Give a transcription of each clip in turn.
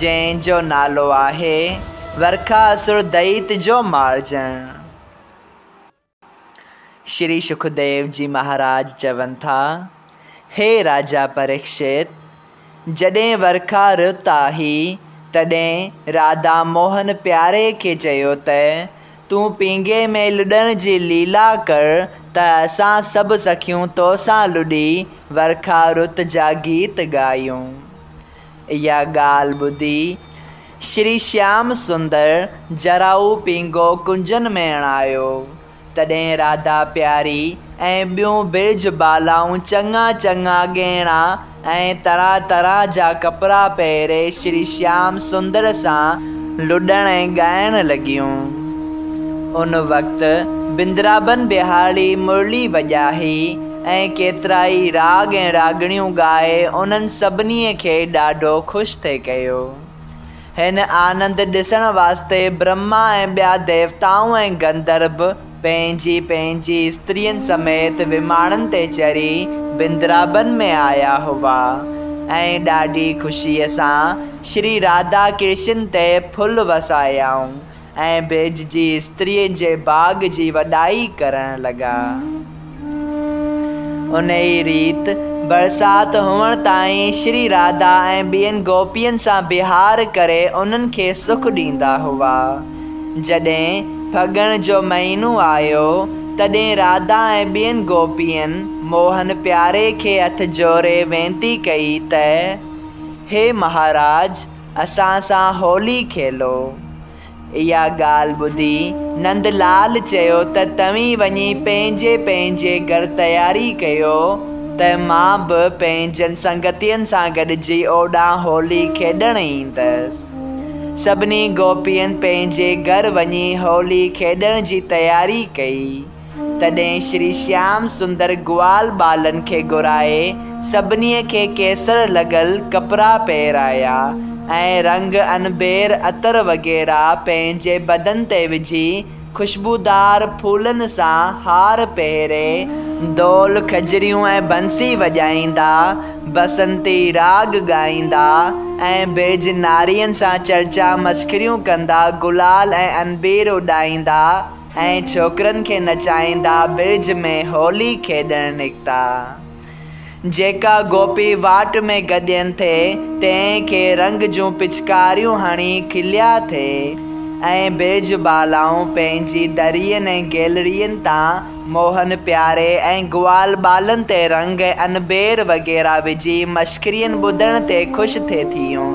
جنهن جو نالو آهي ورکا اسور دئيت جو مارجڻ. شري شڪديو جي مهاراج چون ٿا، هي راجا پريڪشت! جڏهن ورکا رت آهي، تڏهن راڌا موهن پياري کي چيو ته، تون پينگهي ۾ لڏڻ جي ليلا ڪر ته اسان سڀ سکيون تو سان لڏي ورکا رت جا گيت ڳايون. اها ڳالهه ٻڌي شري شيام سندر جراهو پينگهو ڪنجن ۾ اڻايو، تڏهن راڌا پياري ۽ ٻيون برج بالائون چڱا چڱا ڳهڻا ۽ طرح طرح جا ڪپڙا پهري شري شيام سندر سان لڏڻ ۽ ڳائڻ لڳيون. ان وقت بندرابن ٻهارڙي مرلي وڄائي، ۽ ڪيترائي راڳ ۽ راڳڻيون ڳائي انهن سڀنيء کي ڏاڍو خوش ٿي ڪيو. هن آنند ڏسڻ واسطي برهما ۽ ٻيا ديوتائون ۽ گندرڀ پنهنجي پنهنجي استرين سميت وماڻن تي چڙهي بندرابن ۾ آيا هئا ۽ ڏاڍي خوشيء سان شري راڌا ڪرشن تي ڦل وسايائون ۽ ڀيڄ جي استرين جي باغ جي وڏائي ڪرڻ لڳا. انهيء ريت برسات هئڻ تائين شري راڌا ۽ ٻين گوپين سان وهنار ڪري انهن کي سک ڏيندا هئا. جڏهن ڦڳڻ جو مهينو آيو، تڏهن راڌا ۽ ٻين گوپين موهن پياري کي هٿ جوڙي وينتي ڪئي ته، هي مهاراج! اسان سان هولي کيلو. اها ڳالهه ٻڌي نند لال چيو ته توهين وڃي پنهنجي پنهنجي گهر تياري ڪيو ته مان به پنهنجن سنگتين سان گڏجي اوڏانهن هولي کيڏڻ ايندس. سڀني گوپين پنهنجي گهر وڃي هولي کيڏڻ جي تياري ڪئي. تڏهن شري شيام سندر گوال ٻالن کي گهرائي سڀنيء کي ڪيسر لڳل ڪپڙا پهرايا ۽ رنگ انبير عطر وغيره پنهنجي بدن تي وجهي خوشبودار ڦولن سان هار پهري ڍول کجريون ۽ بنسي وڄائيندا بسنتي راڳ ڳائيندا ۽ بيج نارين سان چرچا مسخريون ڪندا گلال ۽ انبير اڏائيندا. ۽ ڇوڪرن کي نچائيندا برج ۾ هولي کيڏڻ نڪتا. جيڪا گوپي واٽ ۾ گڏين ٿي، تنهن کي رنگ جون پچڪاريون هڻي کليا ٿي ۽ برج بالائون پنهنجي درين ۽ گيلڙين تان موهن پياري ۽ گوال ٻالن تي رنگ ۽ انبير وغيره وجهي مشڪرين ٻڌڻ تي خوش ٿي ٿيون.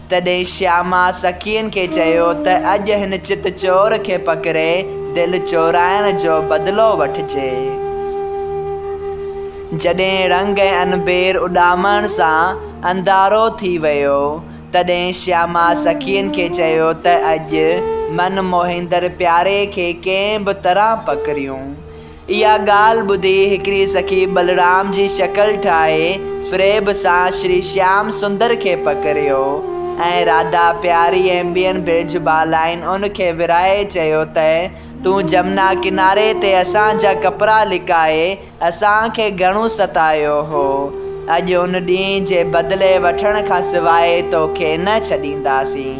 تڏهن شياما سکين کي چيو ته اڄ هن چت چور کي پڪڙي دل چورائڻ جو بدلو وٺجي. جڏهن رنگ ۽ انبير اڏامڻ سان انڌارو ٿي ويو، تڏهن شياما سکين کي چيو ته اڄ من موهيندڙ پياري کي ڪنهن به طرح پڪڙيون. اها ڳالهه ٻڌي هڪڙي سخي بلرام جي شڪل ٺاهي فريب سان شري شيام سندر کي پڪڙيو ۽ راڌا پياري ۽ ٻين برج بالائن ان کي ورهائي چيو ته تون جمنا ڪناري تي اسان جا ڪپڙا لڪائي اسان کي گهڻو ستايو هو اڄ ان ڏينهن جي بدلي وٺڻ کان سواء تو کي نه ڇڏينداسين.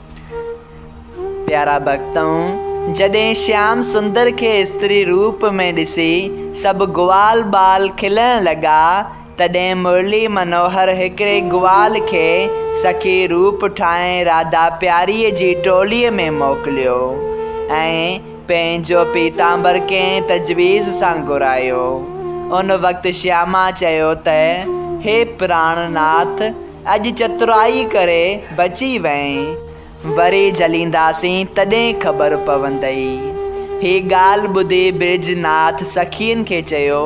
پيارا ڀڳتؤ! جڏهن شيام سندر کي استري روپ ۾ ڏسي سڀ گوال ٻال کلڻ لڳا، تڏهن مرلي منوهر هڪڙي گوال کي سخي روپ ٺاهي راڌا پياريء جي ٽوليء ۾ موڪليو ۽ پنهنجو پيتامبر ڪنهن تجويز سان گهرايو. ان وقت شياما چيو ته، هي پراڻ ناٿ! اڄ چترائي ڪري بچي وئين، وري جلينداسين تڏهن خبر پوندئي. هي ڳالهه ٻڌي برج ناٿ سخين کي چيو،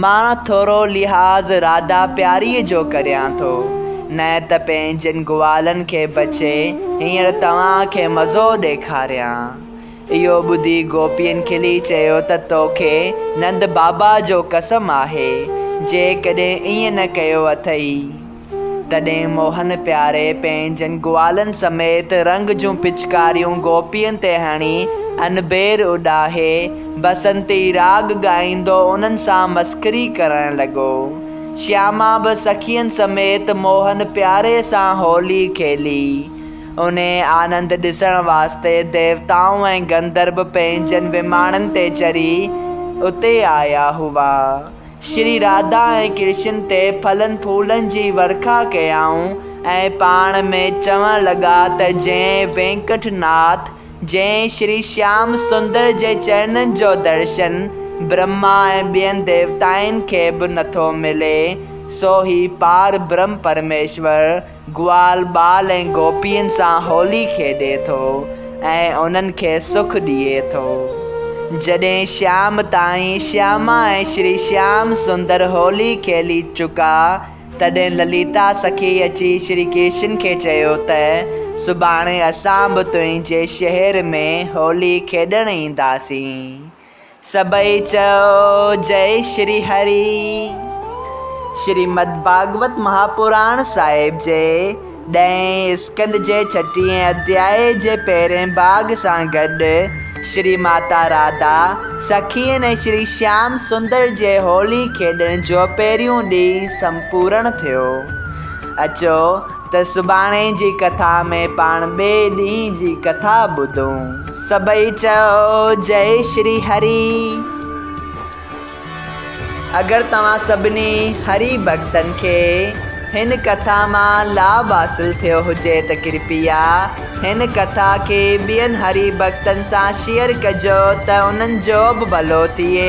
مان ٿورو لحاظ راڌا پياريء جو ڪريان ٿو، نه ته پنهنجن گوالن کي بچي هينئر توهان کي مزو ڏيکاريان. اهو ٻڌي گوپين کلي چيو ته توکي نند بابا جو قسم آهي، جيڪڏهن ائين نه ڪيو اٿئي. تڏهن موهن پياري پنهنجن گوالن سميت رنگ جون پچڪاريون گوپين تي هڻي انبير اڏاهي بسنتي راڳ ڳائيندو انهن سان مسخري ڪرڻ لڳو. شياما به سخين سميت موهن پياري سان هولي کيلي. انهيء آنند ڏسڻ واسطي ديوتائون ۽ گندرب پنهنجن وماڻن تي چڙهي اتي آيا هئا. شري راڌا ۽ ڪرشن تي ڦلن ڦولن جي ورکا ڪيائون ۽ پاڻ ۾ چوڻ لڳا ته جنهن وينڪٽ ناٿ، جنهن شري شيام سندر جي چرنن جو درشن برهما ۽ ٻين ديوتائن کي به نٿو ملي، سو هي پار برهم پرميشور، گوال ٻال ۽ گوپين سان هولي کيڏي ٿو ۽ انهن کي سک ڏئي ٿو. جڏهن شام تائين شياما ۽ شري شيام سندر هولي کيلي چڪا تڏهن لليتا سکي اچي شري ڪرشن کي چيو ته سڀاڻي اسان به تنهنجي شهر ۾ هولي کيڏڻ اينداسين. سڀئي چئو جئي شري هري. شريمد ڀاڳوت مهاپراڻ صاحب جي ڏهين اسڪند جي ڇٽيهين اڌياء جي پهرين ڀاڳ سان گڏ شري ماتا راڌا سخين ۽ شري شيام سندر جي هولي کيڏڻ جو پهريون ڏينهن سمپورڻ ٿيو. اچو ته سڀاڻي جي ڪٿا ۾ پاڻ ٻئي ڏينهن جي ڪٿا ٻڌون. سڀئي چئو جئي شري هري. اگر توهان سڀني هري ڀڳتن کي هن ڪٿا مان لاڀ حاصل ٿيو هجي ته ڪرپيا هن ڪٿا کي ٻين هري ڀڳتن سان شيئر ڪجو ته انهن جو به ڀلو ٿئي.